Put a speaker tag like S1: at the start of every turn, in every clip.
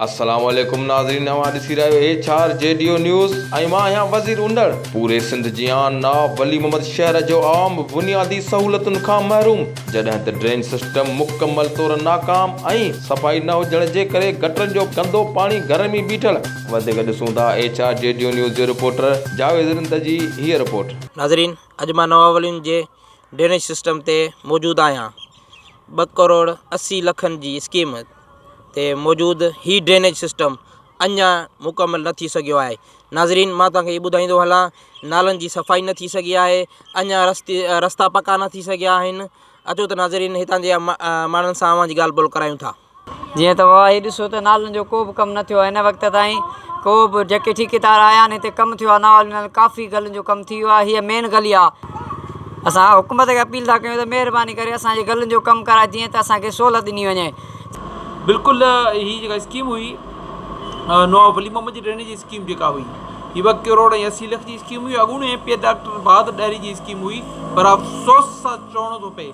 S1: السلام عليڪم ناظرين اوهان ڏسي رهيا آهيو ايڇ آر جي ڊيو نيوز ۽ مان آهيان وزير اونڏر پوري سنڌ جيان نواب ولي محمد شهر جو عوام بنيادي سهولتن کان محروم جڏهن ته ڊرين سسٽم مڪمل طور ناڪام ۽ صفائي نه هجڻ جي ڪري گٽرن جو گندو پاڻي گهرن ۾ بيٺل وڌيڪ ڏسون ٿا ايڇ آر جي ڊيو نيوز جي رپورٽر جاويد رند جي هيء رپورٽ. ناظرين اڄ مان
S2: نواولين جي ڊرينيج سسٽم تي موجود آهيان ٻه ڪروڙ اسي لکن جي اسڪيم تي موجود هي ڊرينيج سسٽم اڃا مڪمل نه ٿي سگهيو آهي ناظرين مان توهان کي هي ٻڌائيندو هلان نالن جي صفائي نه ٿي سگهي آهي اڃا رستي رستا پڪا نه ٿي سگهيا آهن اچو ته ناظرين هتان جي ماڻهن سان اوهان جي ڳالهه ٻولهه ڪرايون ٿا. جيئن ته اهي
S3: ڏسو ته نالن جو ڪو به ڪم نه ٿيو آهي هن وقت تائين ڪو به جيڪي ٺيڪيدار آيا آهن هتي ڪم ٿيو آهي نالن ۾ ڪافي گلين جو ڪم ٿي ويو آهي هيء مين گلي آهي اسان حڪومت کي اپيل ٿا ڪيون ته مهرباني ڪري اسان جي گلين جو ڪم ڪرائي جيئن ته اسان کي سهولت ڏني وڃي. بلڪل
S4: هي جيڪا اسڪيم هئي نواب ولي محمد جي ڊرينيج جي اسڪيم جيڪا هئي هي ٻه ڪروڙ ۽ اسي لک جي اسڪيم هئي اڳوڻي M P A doctor Bahadur Dahri جي اسڪيم هئي پر افسوس سان چوڻو ٿو پئي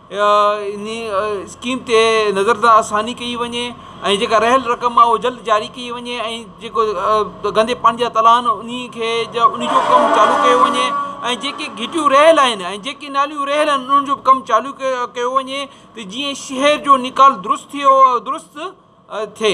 S4: انهيء اسڪيم تي نظر ثاني ڪئي وڃي ۽ جيڪا رهيل رقم آهي اهو جلد جاري ڪئي وڃي ۽ جيڪو گندي پاڻي جا تلا آهن انهي کي انهي جو ڪم چالو ڪيو وڃي ۽ جيڪي گهٽيون رهيل آهن ۽ جيڪي ناليون رهيل آهن انهن جو به ڪم چالو ڪيو وڃي ته جيئن شهر جو نيڪال درست ٿئي درست ٿئي